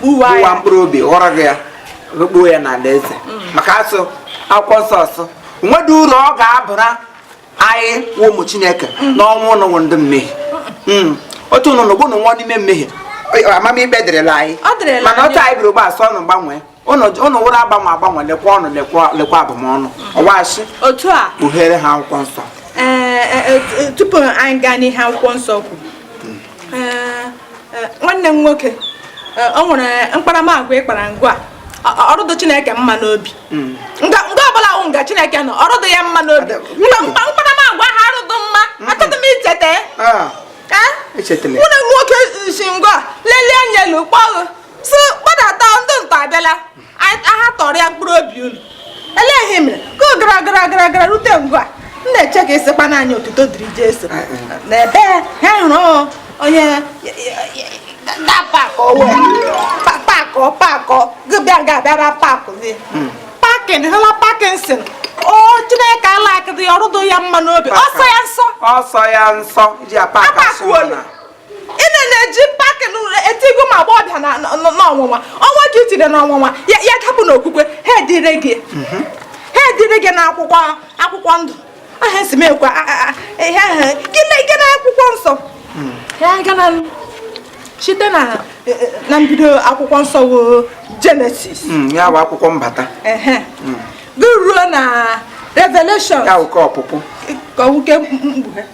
kpụwa mkpụrụ obi ghọrọ gị ya kpuo ya n'ala eze mm. maka asị akwụkwọ nsọ sị o nwedị uru ọ ga-abara anyị wụ ụmụ chineke mm. n'ọnwụ ụnụ wụ ndị mmehie mm. otu ụnụ nọ bụ ụnụ nwụọ n'ime mmehie amamikpe dịrịla anyị mana otu anyị biri ugbu a sị ụnụ gbanwee ụnụ wụrụ agbanwe agbanwe lekwa ụnụ lekwa abụmọnụ ọwachi otu a kpughere ha akwụkwọ nsọ eh, eh, eh, tupu anyị gaa n'ihe akwụkwọ nsọ kwu eh, nwanne m nwoke eh, o nwere mkparamagwa ị kpara nga ọ rụdụ chineke mma n'obi hmm. nga ọbụla wụ nga chineke nọ ọ rụdụ ya mma n'obi mkparamagwa ha arụdụ mma hmm. achọghị m icheta ah. eh? nwanne nwoke si ngwa lelie anya elu kpọọ si gbadata ndị ntọ abịala aha tọrọ ya mkpụrụ obi unu elee ihe mere ka ọ gara gara gara gara rute nga m na-eche ka ịsịkwa n'anya otuto dịrị Jesu n'ebe ha hụrụ onye na pakọ wee pakọ pakọ gị bịa ga abịara pakụ gị hmm. pakin hụla pakinsin o chineke alaịkịdị ọ rụdụ ya mma n'obi ọ sọ ya nsọ ọ sọ ya nsọ ji apaka sụọ na ene na-eji pakị etigo ụmụ agbọbịa n'ọnwụnwa o nwee nke i tire n'ọnwụnwa ya dapụ n'okwukwe ha edire gị mhm. ha edere gị na akwụkwọ akwụkwọ ndụ aha esi m ekwe ihe ahụ gị na akwụkwọ nsọ hmm. ya gana site na e, e, na mbido akwụkwọ nsọ bụ genesis hmm, ya bụ akwụkwọ mbata hmm. gị ruo na revelation ya bụ nke ọpụpụ ka ọ wụ nke mkpughe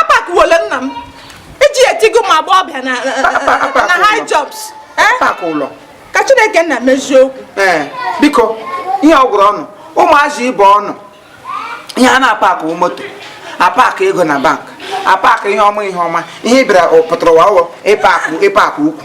apakụwole nna m iji etigo ụmụ agbọbịa na high jumps eh? ka chineke nna mezie okwu eh, biko ihe ọ gwụrụ unu ụmụazị ibe unu ihe a na-apakụ moto apakụ ego na bank apakụ ihe ọma ihe ọma ihe ị bịara pụtara ụwa wụ ịpakụ ịpakụ ukwu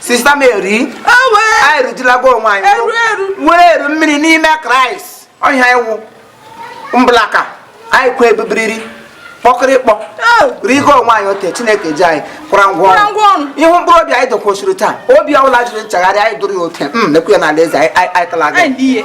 sista mary anyị rujulago onwe anyị were eru mmiri n'ime kraịst ọhịa iwu mblaka anyị kwe ebubiriri kpọkịrịkpọ rigo onwe anyị ote chineke ji anyị kwara ngwa ọrụ ihu mkpụrụ obi anyị dokwosiri taa obi ọbụla jụrụ nchegharị anyị dụrụ ya ote m hmm, nekwu ya n'ala eze anyị tala gị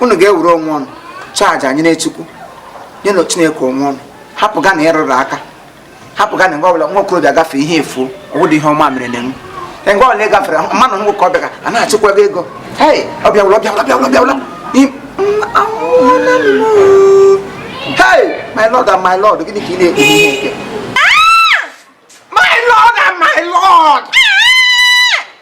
unu ga-ewere onwe unu chaji nyere chukwu nyenụ chineke onwe unu hapụganụ ịrụrụ aka hapụganụ mgbe ọbụla nwa okorobịa gafee ihe efuo ọ wụdị ihe ọma mere na enwu mgbe ọbụla ị gafere mmanụ nwoke ọ bịa ka a na-achịkwa gị ego hei ọ bịawụla ọ bịawụla ọ bịawụla ọ bịawụla hei my lord and my lord gịnị ka ị na-ekpe ihe nke my lord and my lord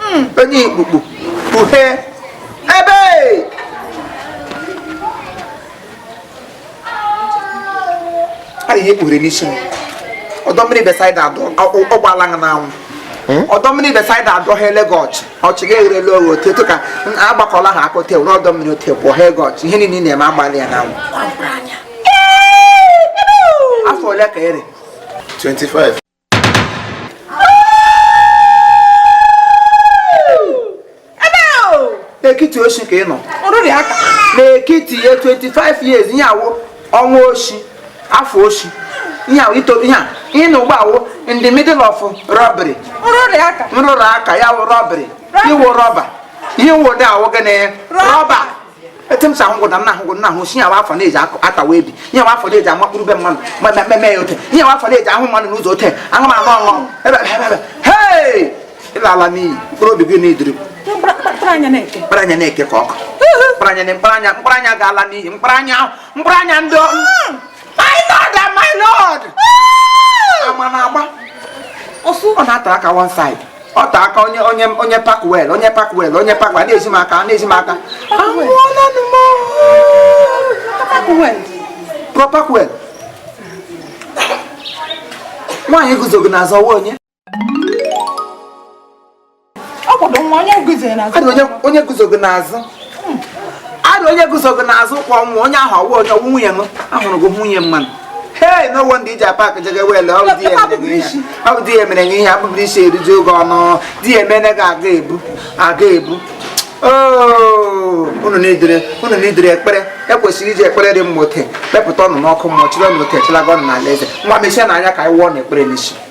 Hmm, onye ikpukpu kpughe ebe a ihe kpughere n'isi m ọdọ mmiri besaida adọ ọ gbala n'anwụ Hmm? ọdọ mmiri besaida adọ ha ele gị ọchị ọchị gị egherela oghe otu etu ka agbakọla ha akọta ewu n'ọdọ mmiri otu ekwuo ha ego ọchị ihe niile ị na-eme agbalị ya n'anwụ afọ ole ka ere 25 n'ekiti oshi ka ị nọ n'ekiti ihe 25 years ihe a wụ ọnwa oshi afọ oshi ihe a wụ ito ihe a ị nọ ugbu a wụ in the middle of robbery nrụrụ aka ya wụ robbery ị wụ robber ihe wụ di ya wụ gịnị robber etu m si ahụ gwụda nna ahụ gwụ nna ahụ si nyawa afọ na-eji atawa ebi nyawa afọ na-eji amakpụrụ be mmanụ ma mmemme ya ote nyawa afọ na-eji ahụ mmanụ n'ụzọ ote ahụ ma aṅụ ọṅụ ebe ebe ebe hei ị lala n'iyi mkpụrụ obi gị needịrị mkparanya na-eke ka ọkụ mkparanya na mkparanya mkparanya ga-ala n'iyi mkparanya mkparanya ndị ọrụ my lord and my lord ama na-agba ọsụ ọ na-ata aka one side ọ ta aka onye onye onye park well onye park well onye park well na-ezi m aka na-ezi m aka anwụọla nụ m park well nwaanyị guzo gị n'azụ ọ wụ onye onye guzo gị n'azụ adụ onye guzo gị n'azụ kwa nwa onye ahụ ọ wụ onye ọ wụ nwunye m ahụrụ gị nwunye mmanụ hei no wonder iji a-park jega well ọ bụ di ya mere nye ihe abụbụrụ isi eriju oge ọnụ di ya emene gị a ga-ebu a ga-ebu unu needịrị unu needịrị ekpere e kwesịrị iji ekpere dị mma ote kpepụta unu n'ọkụ mmụọ chịrị unu ote chịlaga unu n'alaeze ngwa mechie nụ anya ka anyị wụọ unu ekpere n'isi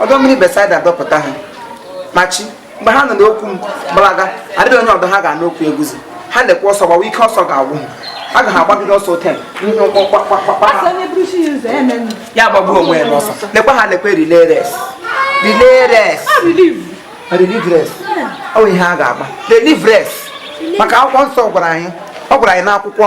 ọdọ mmiri Besaida dọpụta ha machi mgbe ha nụ okwu m gbalaga adịghị onye ọdọ ha ga-anụ okwu eguzi ha lekwa ọsọ gbawa ike ọsọ ga-agwụ ha aga ha agbagide ọsọ ote ya gbagbuo onwe ya n'ọsọ lekwa ha lekwa relay race relay race relay race ọ bụ ihe a ga-agba relay race maka akwụkwọ nsọ gwara anyị ọ gwara anyị n'akwụkwọ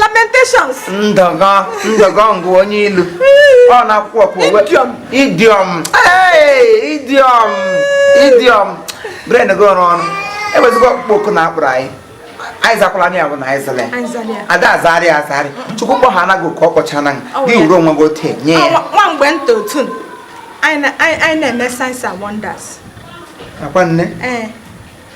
lamentations ndọgọ ndọgọ ngụ onye ilu ọ na-ekwu okwu idiom idiom idiom idiom brain gị ọrụ ọnụ ewezụga ọkpụkpọ oku na a kpọrọ anyị anyị zakwala anyị abụ na anyị zele ada azarị azarị chukwu kpọ ha anaghị ka ọ kpọcha na gị were onwe gị otu nye ya nwa mgbe nta otu anyị na-eme signs and wonders akwa nne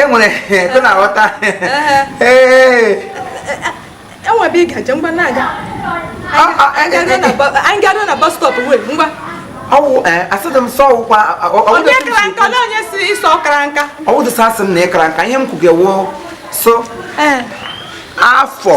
e nwere ebe na-aghọta enwebe ị gaje ngwa na-aga anyị gadụ na bus stop wee ngwa ọwụ asịdị m sọ ọwụkwa onye kara nka na onye si ịsọ ọkara nka ọwụ dịsa asị m na ịkara nka ihe m kwugewo so afọ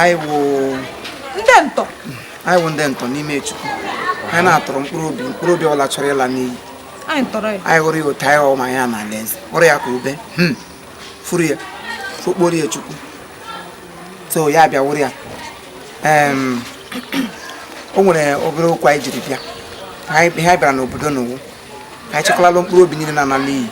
anyị wụ ndị ntọ anyị wụ ndị ntọ n'ime chukwu anyị na-atọrọ mkpụrụ obi mkpụrụ obi ọwụla chọrọ ịla n'iyi anyị hụrụ ya otu anyị ọma ya n'alaeze hụrụ ya ka ube hmm. furu ya fukporo ya chukwu so ya bịa wụrụ ya o nwere obere okwu anyị jiri bịa ihe anyị bịara n'obodo n'ụwa ka anyị chekwalalụ mkpụrụ obi niile na-ala n'iyi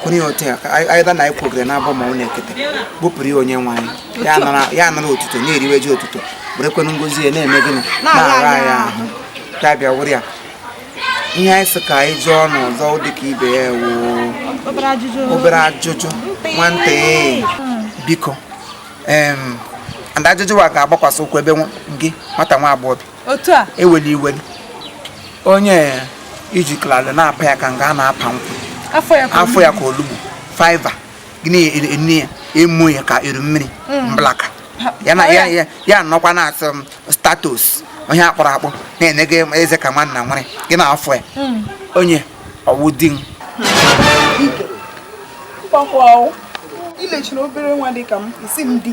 kwụnye otu ya ka anyị anyị na anyị kwogere n'abọ ma ọ n'ekete bupụrụ ya onye nwe anyị ya anara- ya anara otuto na-eriwe ji otuto werekwenụ ngozi ya na-eme gịnị na-ara anyị ahụ ya bịa wụrụ ya ihe anyị sị ka anyị jụọ n'ọzọ dị ka ibe ya wụ obere ajụjụ obere ajụjụ nwantị biko em and ajụjụ wa ga-agbakwasị ụkwụ ebe nwa- gị nwata nwa agbọghọ bi otu a iweli iweli onye ijikọlala na-apa ya ka nga a na-apa nkwụ afọ ya ka olugbu five gị na-enye ya emu ya ka eru mmiri hmm. mblaka ya nọkwa na-asị m status onye akpọrọ akpọ na-enweghị eze ka nwanna nwere gị na afọ ya hmm. onye ọwụ di m ilechiri obere nwa dị ka m isi m di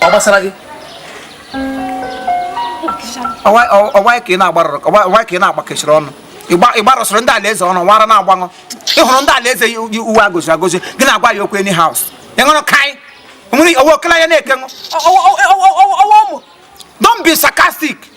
ọ gbasara gị ọwa ka ị na-agbarụrụ ọwa ka ị na-agbakechiri ọnụ ịgbarụsịrị ndị alaeze ọnụ wara na-agbanụ ịhụrụ ndị alaeze yi uwe agoziri agozi gị na-agwa ya okwu anyhow ịṅụrụ kai nwere owe okele anya na-ekenụ ọwa ụmụ don't be sarcastic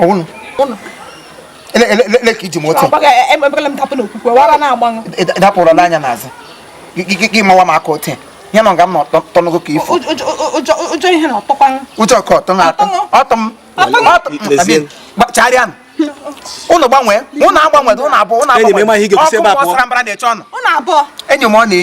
ọwụnụ ele ka iji m otu dapụrụ n'anya n'azụ gị mawa m aka otu ya nọ nga m tọnụgo ka ifo ụjọ ka ọtọ na atọ ọtọ m chagharịa ụnụ gbanwee ụnụ agbanwe ụnụ abụọ ụnụ abụọ ọkụ gbọsara mbara na-eche ọnụ enyi m ọ na-eyi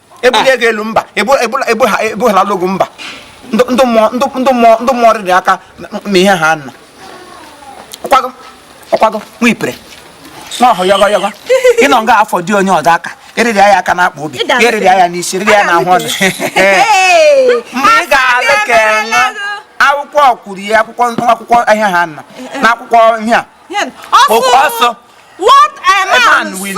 ebulie gị elu mba ebughara logo mba ndị mmụọ rịrị aka ma ihe ha nna ọkwago ọkwago nwa ipere nwa ọhụ yọgọ yọgọ ịnọ nga afọ dị onye ọdọ aka eriri ya aka na-akpa obi eriri ya n'isi eriri ya n'ahụ ọnụ mgbe ị ga-alụ ka akwụkwọ kwuru ya akwụkwọ akwụkwọ ahịa ha nna eh, eh. na akwụkwọ ihe a ọsọ what a man will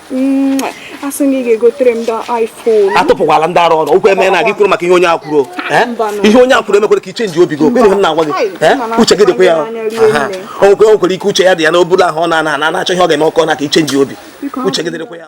asị na ị ga-egotere m iPhone atụpụkwala ndị arụ ọrụ okwu eme na gị kwuru maka ihe onye a kwuru eh? ihe onye a kwuru emekwere ka i chenji obi gị ọkwa ihe m na-agwa gị eh? uche gị dịkwa ya o nwekwere ike uche ya dị ya n'obulu ahụ ọ na-a na-a na-achọ ihe ọ ga-eme ọkọ na ka i chenji obi uche gị dịrịkwa ya